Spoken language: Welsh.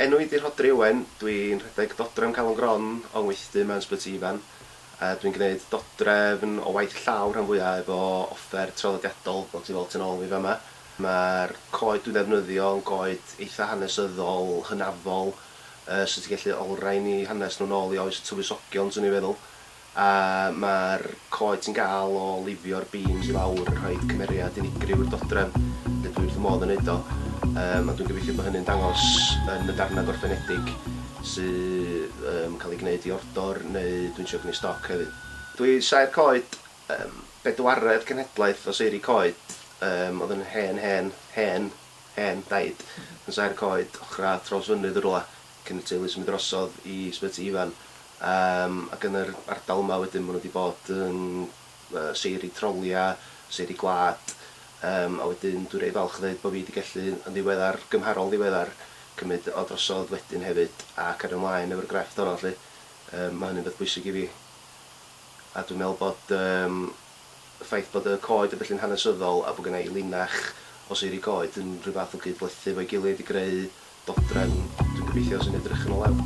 Enw i 'di Rhodri Owen, dwi'n rhedeg Dodrefn Calon Gron yng Ngweithdy mewn Ysbyty Ifan. Dwi'n gwneud dodrefn o waith llaw rhan fwya' efo offer traddodiadol, fel ti'n weld tu nôl i fi fama. Ma'r coed dwi'n ddefnyddio yn goed eitha' hanesyddol, hynafol, Yy so ti'n gallu olrhain i hanes nhw nôl i oes y tywysogion swn i'n feddwl. A ma'r coed ti'n gael o lifio'r beams i lawr yn rhoid cymeriad unigryw i'r dodrefn. Neu dwi wrth fy modd yn neud o. Yym a dwi'n gobeithio bod hynny'n dangos yn y darnau gorffenedig sydd yn cael eu gwneud i ordor neu dwi'n trio gwneu stoc hefyd. Dwi saer coed, yym bedwaredd cenhedlaeth o seiri coed, yym oedd yn hen hen hen. hen daid yn saer coed ochr a thraws fynydd yn rywle cyn y teulu symud drosodd i Sbyty Ifan yym ac yn yr ardal yma wedyn ma' nhw wedi bod yn yy seiri trolia, seiri gwlad yym a wedyn dwi reit falch o ddeud bo' fi wedi gallu yn ddiweddar, gymharol ddiweddar cymyd o drosodd wedyn hefyd a cario mlaen efo'r grefft honno 'lly. Yym ma' hynny'n beth bwysig i fi a dwi'n meddwl bod yym Y ffaith bod y coed yn bellin hanesyddol a bod genna i linach o seiri coed yn rhyw fath o gyd-blethu efo'i gilydd i greu dodrefn, dwi'n gobeithio, sy'n edrych yn o lew.